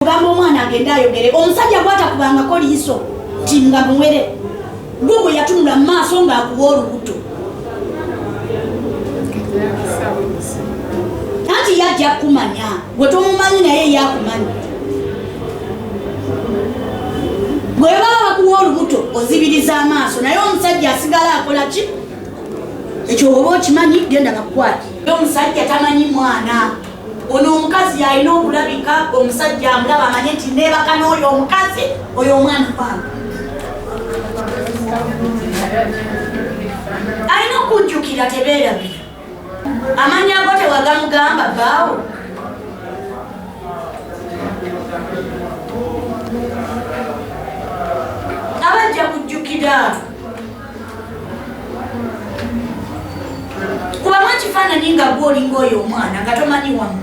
ogamba omwana agende ayogere omusajja gwatakubangako liiso nti nga muwere gwe gwe yatunula mu maaso ng'akuwa olubuto anti yajja kumanya gwe tomumanyi naye yakumanyi bwe baba bakuwa olubuto ozibiriza amaaso naye omusajja asigala akola ki ekyo oba okimanyi genda bakukwati omusajja tamanyi mwana ono omukazi yalina okulabika omusajja amulaba amanye nti nebaka n'oyo omukazi oyo omwana wange alina okujjukira tebeerabira amanya ago tewagamugamba baawo abajja kujjukira kubamu ekifaananyi nga gwe olinga oyo omwana nga tomanyi wamu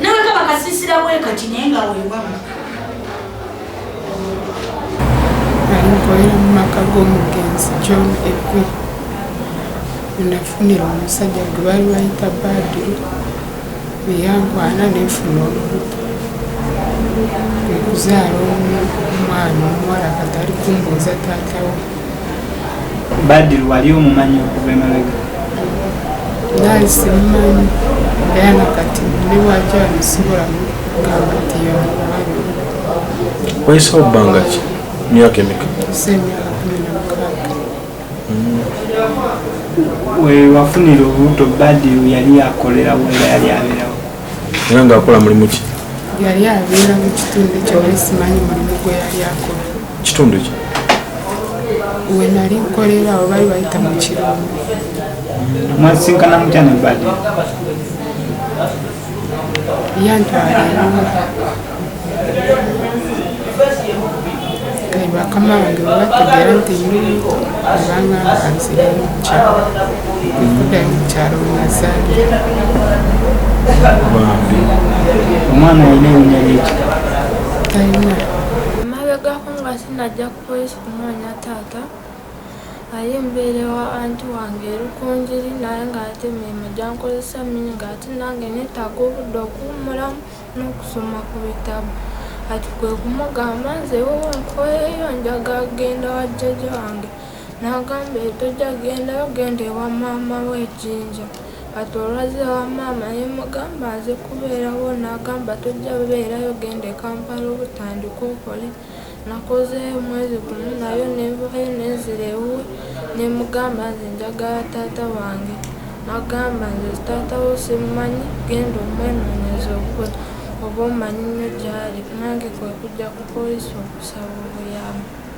nawe kaba kasisira bwekati naye nga wewamu alinkolera mu maka g'omugenzi john egwi nafunira omusajja gwe baali bayita badiru bwe yankwana ne nfuna olubuto kwe kuzaala omwana omuwala kati ali kumbuuza taatawo badiru wali omumanyi okuva emabega naali simumanyi era nakati ne waki amusobola kugamba nti yamumanyi wayise obbanga ki myaka emeka wewafunira olubuto badiru yali yakolera wera yali abeerawo era ngaakola mulimu ki yali abeera mu kitundu kyewali simanyi mulimu gwe yali akola kitundu ki we nali nkolera awo bali bayita mu kirungu mwasinkana mutya ne badiru yantwala bakama wange babategera nti obanga nzirayo mukyalo kudayo mukyalo wenazaalira omwana alina erinnya lyeki talina emabegako nga sinajja ku polisi kunoonya taata aye mbeere wa anti wange erukunjiri naye ng'ate emirimu gyankozesa mingi ng'ate nange neetaaga obudde okuwummulamu n'okusoma ku bitabo kati kwe kumugamba nze wowe nkoyeyo njaga genda wa jjaja wange n'agamba etojja gendayo genda ewa maama we ejinja kati olwazze wa maama ne mugamba nze kubeerawo n'agamba tojja beerayo genda ekampala obutandika okole nakozeeyo omwezi gumu nayo nenvayo nenzira ewuwe nemugamba nze njagala taata wange nagamba nze taata wo simumanyi genda omwenonyeze obukwe oba omanyi nyo gyali nange kwekujja ku police okusaba obuyambi.